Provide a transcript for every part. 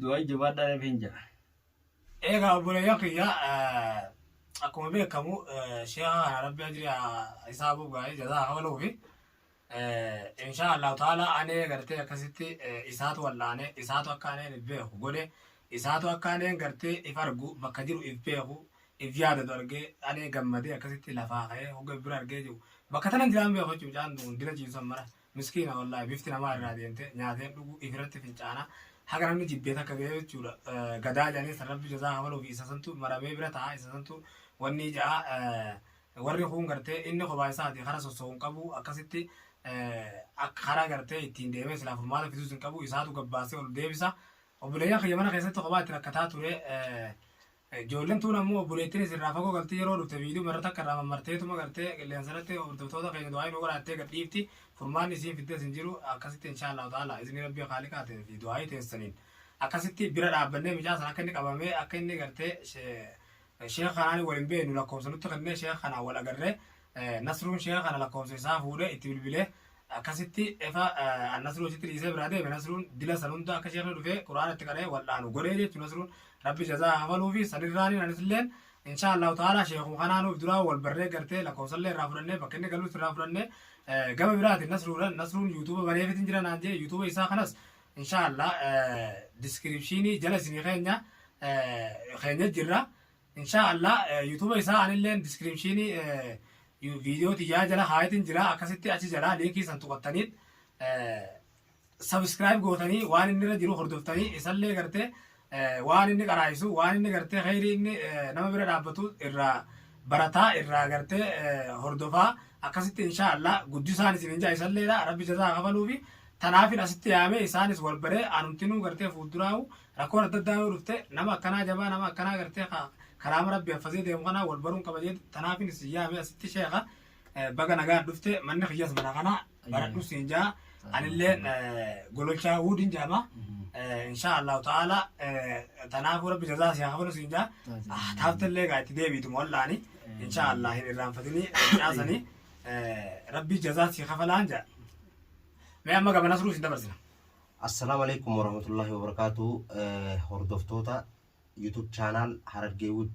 du'aa jabaadhaa rabbiin jira. Egaa obboleeyyan kiyya akkuma beekamu sheeha kana rabbi ajri isaa buuf gaarii jazaa kafaluufi insha allahu taala anee gartee akkasitti isaatu wal'aane isaatu akka aneen if beeku godhe isaatu akka aneen gartee if argu bakka jiru if beeku if yaadatu argee anee gammadee akkasitti lafaa ka'ee hogga bira argee jiru bakka tanan jiraan beeku jechuudha mucaan dina ciisan mara Miskiina wallahi bifti namaa irraa deemte nyaateen dhugu ifirratti fincaana haga namni jibbee takka ga'ee jechuudha gadaa jedhanii san rabbi jazaa hawaluu fi isa santu maramee bira ta'a isa santu wanni ja'a warri kuun gartee inni kophaa isaati kara sosso'u hin qabu akkasitti akka karaa gartee ittiin deemee silaa furmaata fisuus hin qabu isaatu gabbaasee ol deebisa obboleeyyan kiyya mana keessatti kophaa itti rakkataa ture Ijoollen tuun ammoo obboleettinis irraa fagoo galti yeroo dhufte viidiyoo marra takka irraa mammarteetuma gartee qilleensarratti hordoftoota keenya du'aayi nu godhaattee gad dhiifti furmaanni isiin fiddes hin jiru akkasitti inshaallahu ta'ala izni rabbii khaaliqaatiin fi du'aayi teessaniin akkasitti bira dhaabbannee mucaa san akka inni qabamee akka inni gartee sheekh kanaan wal hin beeknu lakkoofsa nutti kennee sheekh kanaan wal agarree Nasruun sheekha kana lakkoofsa isaa fuudhee itti bilbilee akkasitti efa annasruu achitti dhiisee biraa deeme nasruun dila san hunda akka sheekni dhufee quraana itti qara'ee wal'aanu godhee jechuun nasruun rabbi jazaa haa kafaluu fi sanirraaniin anisilleen inshaa allahu ta'ala sheekuu kanaa nuuf duraa wal barree gartee lakkoofsallee irraa fudhannee bakka inni galuutti irraa fudhannee eh, gama biraatiin nasruudhaan nasruun yuutuuba baneefitin jira naan jee yuutuuba isaa kanas inshaa allah diskiripshiinii jala isinii keenya eh, keenya jirra Inshaa Allah YouTube isaa anilleen descriptionii video tiyyaa jala haayitin jira akkasitti achi jala linkii san tuqattaniit subscribe gootanii waan inni irra jiru hordoftanii isallee gartee waan inni qaraayisu waan inni gartee khayrii inni nama bira dhaabbatu irraa barataa irraa gartee hordofaa akkasitti inshaa Allah guddisaan isin injaa isalleedha rabbi jazaa kafaluufi tanaafin asitti yaamee isaanis wal baree anumtinuu gartee fuulduraa'u Rakkoon adda addaa yoo dhufte nama akkanaa jabaa nama akkanaa gartee ka karaama rabbi haffazee deemu kanaa wal baruun qaba jee tanaafin isin yaame asitti sheeka eh, baga nagaan dhufte manni kiyyas mana kana baradhu siin jaa anilleen eh, gololchaa huudin jaama eh, inshaa allahu ta'ala eh, tanaafuu rabbi jazaa si hafalu siin jaa ah, taaftallee gaa itti deebiitu mollaani inshaa allah hin irraanfatini caasani eh, rabbi jazaa si hafalaan jaa mee amma gama nasruu siin dabarsina Assalaamu Aleykum Warahmatullahi Wabarakaatuhu Hordoftoota YouTube Channel Harargee Wood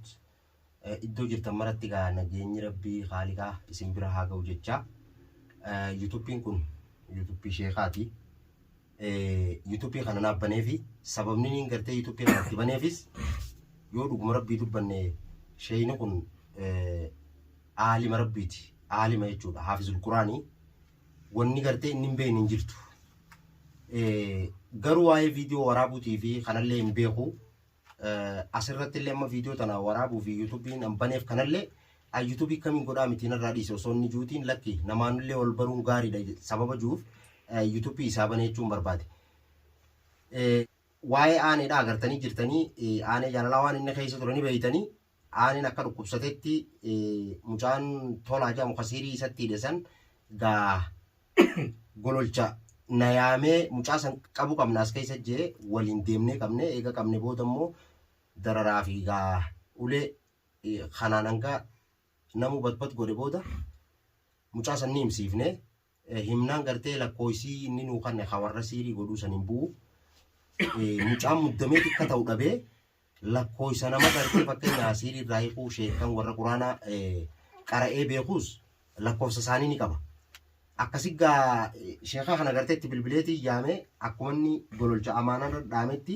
iddoo jirtan maratti gaa nageenyi Rabbii Haaliqaa isin bira haa ga'u jecha YouTube'n kun YouTube Sheekaati YouTube kana naaf baneefi sababni niin gartee YouTube kana itti baneefis yoo dhuguma Rabbii dubbanne sheeyni kun aalima Rabbiiti aalima jechuudha haafizul Quraanii wanni gartee inni hin beekne hin jirtu. Garuu waa'ee viidiyoo waraabuutii fi kanallee hin beeku. Asirratti illee amma viidiyoo tana waraabuu fi yuutuubiin an baneef kanallee an yuutuubii kamiin godhaa miti narraa dhiise osoo inni juutiin lakki namaanillee wal baruun gaariidha sababa juuf yuutuubii isaa banee jechuun barbaade. Waa'ee aaneedha agartanii jirtanii aanee jaalalaa waan inni keessa turanii beeytanii Aaniin akka dhukkubsatetti mucaan tolaa jedhamu kasiirii isatti hidhe san gaa gololcha na yaamee mucaa san qabu qabna as keessa jee waliin deemnee qabne eega qabne booda immoo dararaa fi gaa ulee kanaan hanga namuu batbat godhe booda mucaa san ni himsiifne himnaan gartee lakkooysii inni nuu kanne ka warra siirii godhuu san hin bu'u. Mucaan muddamee xiqqa ta'u dhabee lakkooysa nama gartee fakkeenya asiirii irraa hiikuu sheekan warra quraana qara'ee beekuus lakkoofsa isaanii ni qaba. Akkasi gaa sheekaa kana gartee itti bilbileetii yaamee akkuma inni gololcha amaanaa irra dhaametti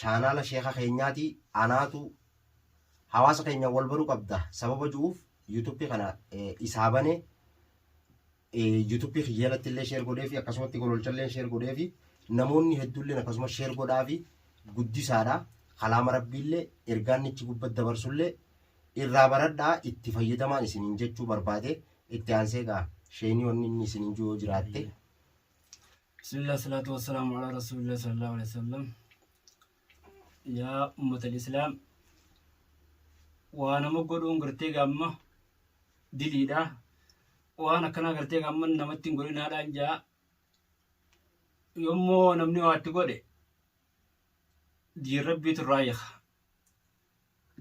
Chaanaala sheeka keenyaati anaatu hawaasa keenya wal baru qabda sababa ju'uuf yuutuuppii kana isaa bane yuutuuppii kiyya jalatti illee sheer godheefi akkasumatti gololchallee sheer godheefi namoonni hedduulleen akkasuma sheer godhaafi guddisaadha kalaama rabbiillee ergaannichi gubbatti dabarsullee irraa baradhaa itti fayyadamaan isiniin jechuu barbaade itti aansee gaa sheenii wanni inni isiniin jiru yoo jiraatte Bismillah salatu wassalamu ala rasulillah sallallahu alaihi wasallam. Yaa ummatal islaam waa nama godhuun gartee gaamma diliidha. Waan akkanaa gartee gaamma namatti hin godhinaadhaan jaa yommoo namni waatti godhe diin rabbiitu irraa hiika.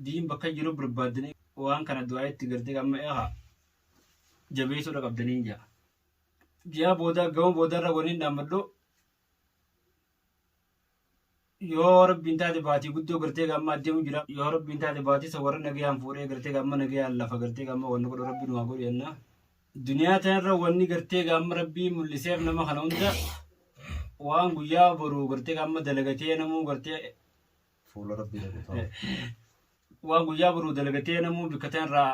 Diin bakka jiru barbaaddanii waan kana du'aa itti gartee gaamma eegaa jabeessuudha qabdaniin jaa. ji'a booda gama boodarra waniin dhaammadhu yoo rabbiin taate baatii guddoo gartee gamma adeemu jira yoo rabbiin taate baatii isa warra nagayaan fuudhee gartee gamma nagayaan lafa gartee gamma wanni godhu rabbiin waa godhu jennaa duniyaa tanarra wanni gartee gamma rabbii mul'iseef nama kana hunda waan guyyaa boru gartee gamma dalagatee namuu gartee Fuula rabbii dhaqutaa. waan guyyaa boru dalagatee namuu bikka tanarraa